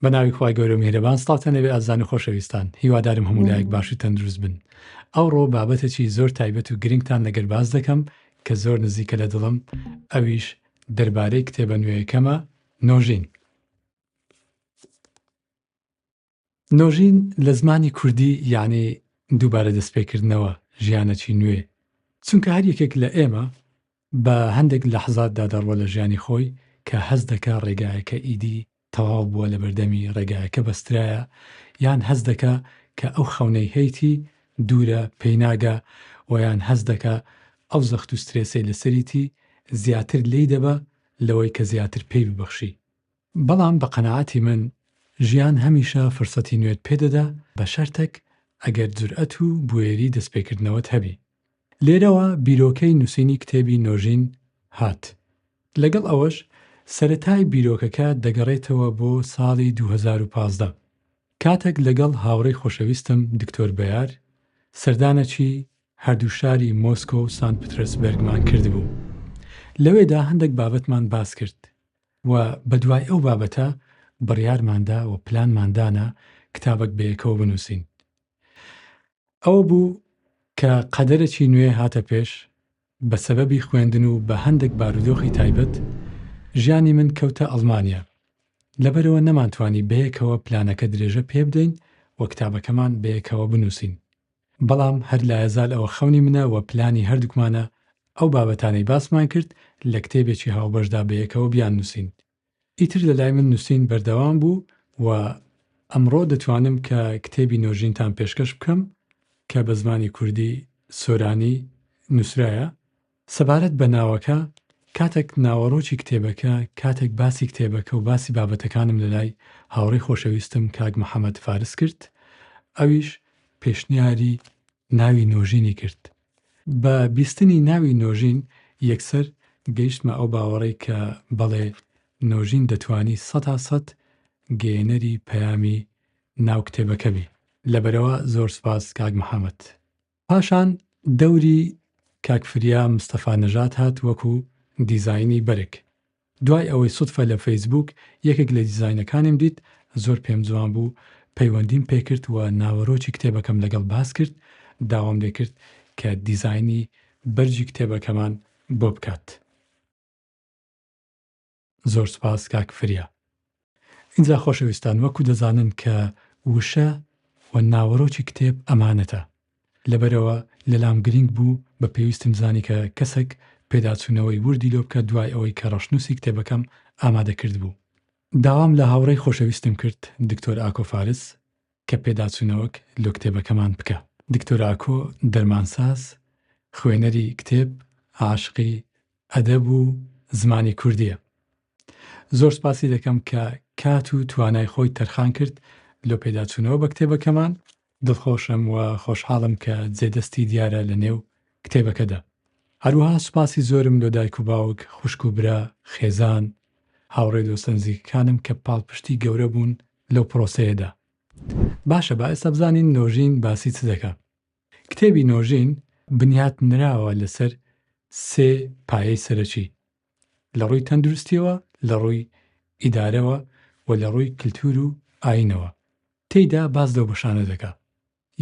بە ناوی خخوای گەورە میهرەبان ستاتە نەبێ ئازان و خۆشەویستان هیوادارم هەموو لایەک باشی تەندروست بن ئەوڕۆ بابەتەکی زۆر تایبەت و گرنگتان لەگەر باز دەکەم کە زۆر نزیکە لە دڵم ئەویش دەربارەی کتێبە نوێیەکەمە نۆژین نۆژین لە زمانی کوردی یانی دووبارە دەستپێکردنەوە، ژیانەکی نوێ. چونکە هەر یەکێک لە ئێمە بە هەندێک لەحزاتدا دەڕوە لە ژیانی خۆی کە هەست دەکا ڕێگایەکە ئیدی تەواو بووە لە بەردەمی ڕێگایەکە بەسترایە یان هەست دەکا کە ئەو خەونەی هەیتی دوورە پێی ناگا و یان هەست دەکا ئەو زەخت و سترێسەی لەسەریتی زیاتر لێی دەبا لەوەی کە زیاتر پێی ببەخشی بەڵام بە قەناعەتی من ژیان هەمیشە فرسەتی نوێت پێ دەدا بە شەرتەک ئەگەر جورئەت و بوێری دەستپێکردنەوەت هەبی. لێرەوە بیرۆکەی نووسینی کتێبی نۆژین هات. لەگەڵ ئەوەش سەرەتای بیرۆکەکە دەگەڕێتەوە بۆ ساڵی دوو هەزار و پازدە کاتەک لەگەڵ هاوڕێی خۆشەویستم دکتۆر بەیار سەردانەکی هەردوو شاری مۆسکۆ و سانت پترەسبەرگمان کردبوو. لەوێدا هەندەک بابەتمان باس کرد و بەدوای ئەو بابەتە بڕیارماندا و پلانمان دانا کتابەک بەیەکەوە بنووسین. ئەوە بوو کە قەدەرەکی نوێ هاتە پێش، بە سەبەبی خوێندن و بە هەندێک بارودۆخی تایبەت، ژیانی من کەوتە ئەڵمانیا، لەبەرئەوە نەمانتوانی بەیەکەوە پلانەکە درێژە پێبدەین و کتابەکەمان بەیەکەوە بنووسین. بەڵام هەر لایەزال ئەوە خەونی منە و پلانی هەردووکمانە ئەو بابەتانەی باسمان کرد لە کتێبێکی هاوبەشدا بەیەکەوە بیاننووسین. ئیتر لە لای من نووسین بەردەوام بوو و ئەمڕۆ دەتوانم کە کتێبی نۆژینتان پێشکەش بکەم کە بە زمانی کوردی، سۆرانی، نووسرایە سەبارەت بە ناوەکە، کاتێک ناوەڕۆکی کتێبەکە، کاتێک باسی کتێبەکە و باسی بابەتەکانم لەلای هاوڕێی خۆشەویستم کاک محەمەد فارس کرد، ئەویش پێشنیاری ناوی نۆژینی کرد. بە بیستنی ناوی نۆژین یەکسەر گەیشتمە ئەو باوەڕەی کە بەڵێ نۆژین دەتوانی سەتا سەد گەیەنەری پەیامی ناو کتێبەکە بی. لەبەرئەوە زۆر سوپاس کاک محەمەد. پاشان دەوری کاک فریا مستەفا نەژاد هات وەکو دیزاینی بەرگ دوای ئەوەی سوتفە لە فەیسبووک یەکێک لە دیزاینەکانیم دیت زۆر پێم جوان بوو پەیوەندیم پێکرد و ناوەرۆکی کتێبەکەم لەگەڵ باس کرد داوام لێکرد کە دیزاینی بەرگی کتێبەکەمان بۆ بکات. زۆر سوپاس کاک فریا. ئینجا خۆشەویستان وەکو دەزانن کە وشە و ناوەرۆکی کتێب ئەمانەتە لەبەرئەوە لەلام گرینگ بوو بە پێویستم زانی کە کەسەک پێداچوونەوەی وردی لۆ بکە دوای ئەوەی کە ڕەشنووسی کتێبەکەم ئامادە کردبوو داوام لە هاوڕێی خۆشەویستم کرد دکتۆر ئاکۆ فارس کە پێداچوونەوەک لۆ کتێبەکەمان بکا. دکتۆر ئاکۆ دەرمانساز خوێنەری کتێب عاشقی ئەدەب و زمانی کوردیە. زۆر سپاسی دەکەم کە کات و توانای خۆی تەرخان کرد لۆ پێداچوونەوە بە کتێبەکەمان. دڵخۆشم و خۆشحاڵم کە جێ دەستی دیارە لە نێو کتێبەکەدا. هەروەها سپاسی زۆرم لۆ دایک و باوک، خوشک و برا، خێزان، هاوڕێ دۆستە نزیکەکانم کە پاڵپشتی گەورە بوون لەو پرۆسەیەدا. باشە با ئێستا بزانین نۆژین باسی چ دەکا؟ کتێبی نۆژین بنیات نراوە لەسەر سێ پایەی سەرەکی، لە ڕووی تەندروستییەوە، لە ڕووی ئیدارەوە و لە ڕووی کلتور و ئایینەوە. تێیدا باس لەو بەشانە دەکا.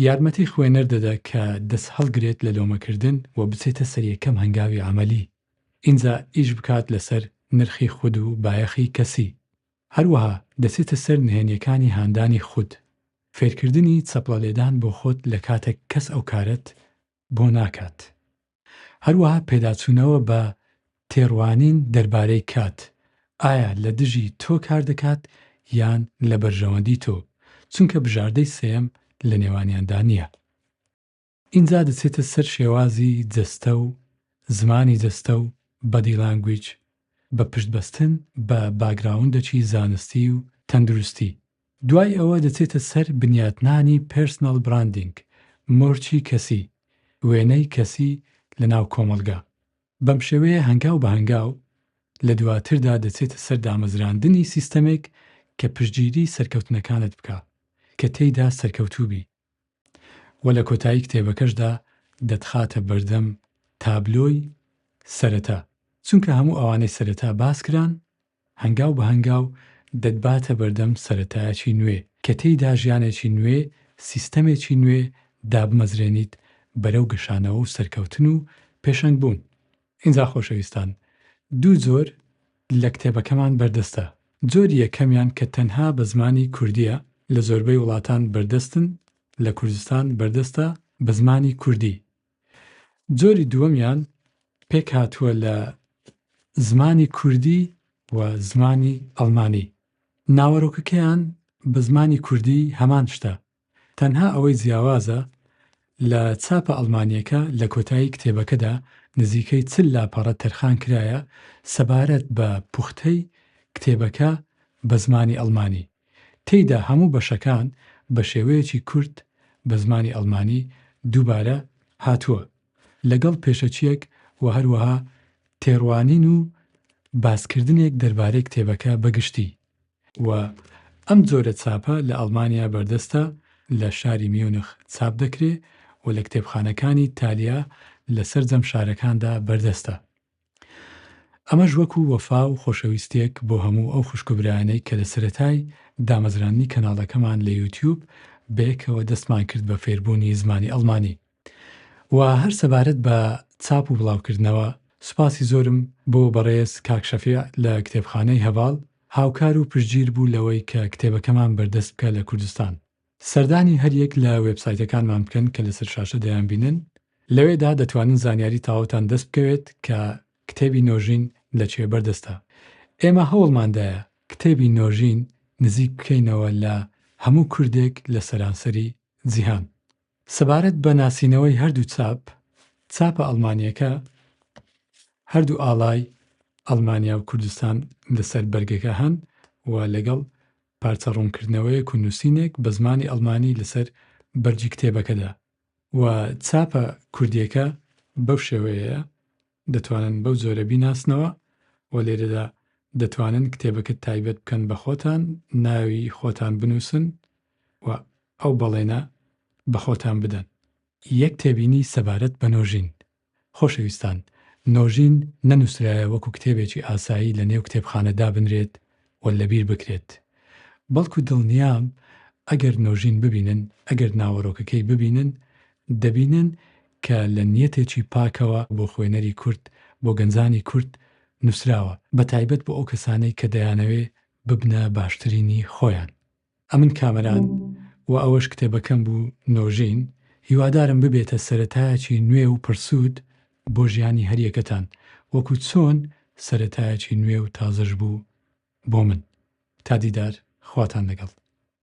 یارمەتی خوێنەر دەدا کە دەس هەڵگرێت لە لۆمەکردن و بچێتە سەر یەکەم هەنگاوی عەمەلی، ئینجا ئیش بکات لەسەر نرخی خود و بایەخی کەسی، هەروەها دەچێتە سەر نهێنیەکانی هاندانی خود، فێرکردنی چەپڵە لێدان بۆ خۆت لە کاتەک کەس ئەو کارەت بۆ ناکات. هەروەها پێداچوونەوە بە تێڕوانین دەربارەی کات، ئایا لە دژی تۆ کار دەکات یان لە بەرژەوەندی تۆ، چونکە بژاردەی سێیەم لە نێوانیاندا نییە. ئینجا دەچێتە سەر شێوازی جەستە و زمانی جەستە و Body Language بە پشت بەستن بە باگراوندەکی زانستی و تەندروستی. دوای ئەوە دەچێتە سەر بنیاتنانی Personal Branding، مۆرکی کەسی، وێنەی کەسی لە ناو کۆمەڵگا. بەم شێوەیە هەنگاو بە هەنگاو لە دواتردا دەچێتە سەر دامەزراندنی سیستەمێک کە پشتگیری سەرکەوتنەکانت بکا کە تێیدا سەرکەوتوو بیت. و لە کۆتایی کتێبەکەشدا دەتخاتە بەردەم تابلۆی سەرەتا، چونکە هەموو ئەوانەی سەرەتا باسکران هەنگاو بە هەنگاو دەتباتە بەردەم سەرەتایەکی نوێ کە تێیدا ژیانێکی نوێ، سیستەمێکی نوێ دابمەزرێنیت بەرەو گەشانەوە و سەرکەوتن و پێشەنگبوون. ئینجا خۆشەویستان دوو جۆر لە کتێبەکەمان بەردەستە، جۆری یەکەمیان کە تەنها بە زمانی کوردییە لە زۆربەی وڵاتان بەردەستن لە کوردستان بەردەستە بە زمانی کوردی، جۆری دووەمیان پێکهاتووە لە زمانی کوردی و زمانی ئەڵمانی، ناوەرۆکەکەیان بە زمانی کوردی هەمان شتە تەنها ئەوەی جیاوازە لە چاپە ئەڵمانیەکە لە کۆتایی کتێبەکەدا نزیکەی چل لاپەڕە تەرخان کرایە سەبارەت بە پوختەی کتێبەکە بە زمانی ئەڵمانی تێیدا هەموو بەشەکان بە شێوەیەکی کورت بە زمانی ئەڵمانی دووبارە هاتووە لەگەڵ پێشەکیەک و هەروەها تێڕوانین و باسکردنێک دەربارەی کتێبەکە بە گشتی. و ئەم جۆرە چاپە لە ئەڵمانیا بەردەستە، لە شاری میونخ چاپ دەکرێ و لە کتێبخانەکانی تالیا لە سەرجەم شارەکاندا بەردەستە. ئەمەش وەکوو وەفا و خۆشەویستییەک بۆ هەموو ئەو خوشک و برایانەی کە لە سەرەتای دامەزراندنی کەناڵەکەمان لە یوتیوب بەیەکەوە دەستمان کرد بە فێربوونی زمانی ئەڵمانی. و هەر سەبارەت بە چاپ و بڵاوکردنەوە سوپاسی زۆرم بۆ بەڕێز کاک شەفیع لە کتێبخانەی هەڤاڵ هاوکار و پشتگیر بوو لەوەی کە کتێبەکەمان بەردەست بکە لە کوردستان. سەردانی هەر یەک لە وێبسایتەکانمان بکەن کە لەسەر شاشە دەیانبینن، لەوێدا دەتوانن زانیاری تاوتان دەست بکەوێت کە کتێبی نۆژین لە کوێ بەردەستە. ئێمە هەوڵمان دایە کتێبی نۆژین نزیک بکەینەوە لە هەموو کوردێک لە سەرانسەری جیهان. سەبارەت بە ناسینەوەی هەردوو چاپ، چاپە ئەڵمانییەکە هەردوو ئاڵای ئەڵمانیا و کوردستان لەسەر بەرگەکە هەن و لەگەڵ پارچە ڕوونکردنەوەیەک و نووسینێک بە زمانی ئەڵمانی لەسەر بەرگی کتێبەکەدا و چاپە کوردییەکە بەو شێوەیەیە. دەتوانن بەو جۆرە بیناسنەوە و لێرەدا دەتوانن کتێبەکە تایبەت بکەن بە خۆتان، ناوی خۆتان بنووسن و ئەو بەڵێنە بە خۆتان بدەن. یەک تێبینی سەبارەت بە نۆژین. خۆشەویستان، نۆژین نەنووسرایە وەکو کتێبێکی ئاسایی لە نێو کتێبخانە دابنرێت و لەبیر بکرێت، بەڵکو دڵنیام ئەگەر نۆژین ببینن، ئەگەر ناوەرۆکەکەی ببینن، دەبینن کە لە نیەتێکی پاکەوە بۆ خوێنەری کورد، بۆ گەنجانی کورد نووسراوە، بەتایبەت بۆ ئەو کەسانەی کە دەیانەوێ ببنە باشترینی خۆیان. ئەمن کامەران و ئەوەش کتێبەکەم بوو نۆژین، هیوادارم ببێتە سەرەتایەکی نوێ و پڕسوود بۆ ژیانی هەریەکەتان وەکو چۆن سەرەتایەکی نوێ و تازەش بوو بۆ من. تا دیدار خواتان لەگەڵ.